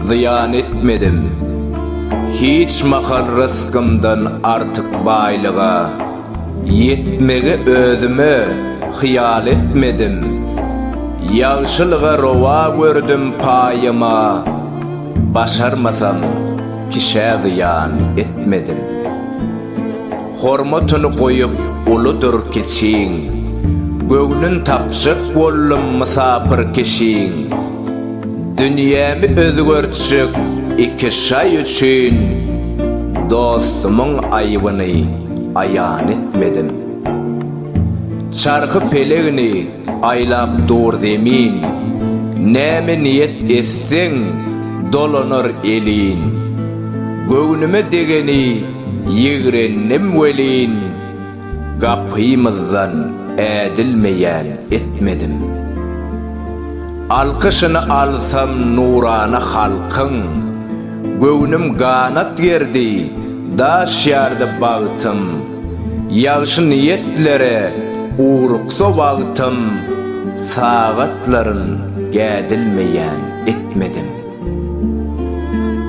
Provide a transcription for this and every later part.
Zyýan etmedim hiç mahal rysgymdan artyk baýlyga, Ýetmegi özüme hyýal etmedim, ýagşylyga rowa gördüm paýyma, Başarmasam kişä zyýan etmedim. Hormatyny goýup uludyr kiçiň. Göwnün tapjak boldum mysapyr kişiň. Dünýämi özgertjek iki şaý üçin. Dostumyň aýbyny aýan etmedim. Çarhy pelegini aýlap dur zemin. Näme niýet etseň dolanar elin. Göwnüme degeni. Ýigrendim welin, gapymyzdan ädilmeýän etmedim. Alkyşyny alsam nurana halkyň, Göwnüm ganat gerdi, daş ýardy bagtym. Ýagşy niýetlere ugruksa wagtym, Sagatlaryn gädilmeýän etmedim.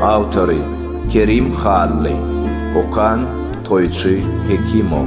Awtory, Kerim Hally. Okan, Toýçy Hekimow.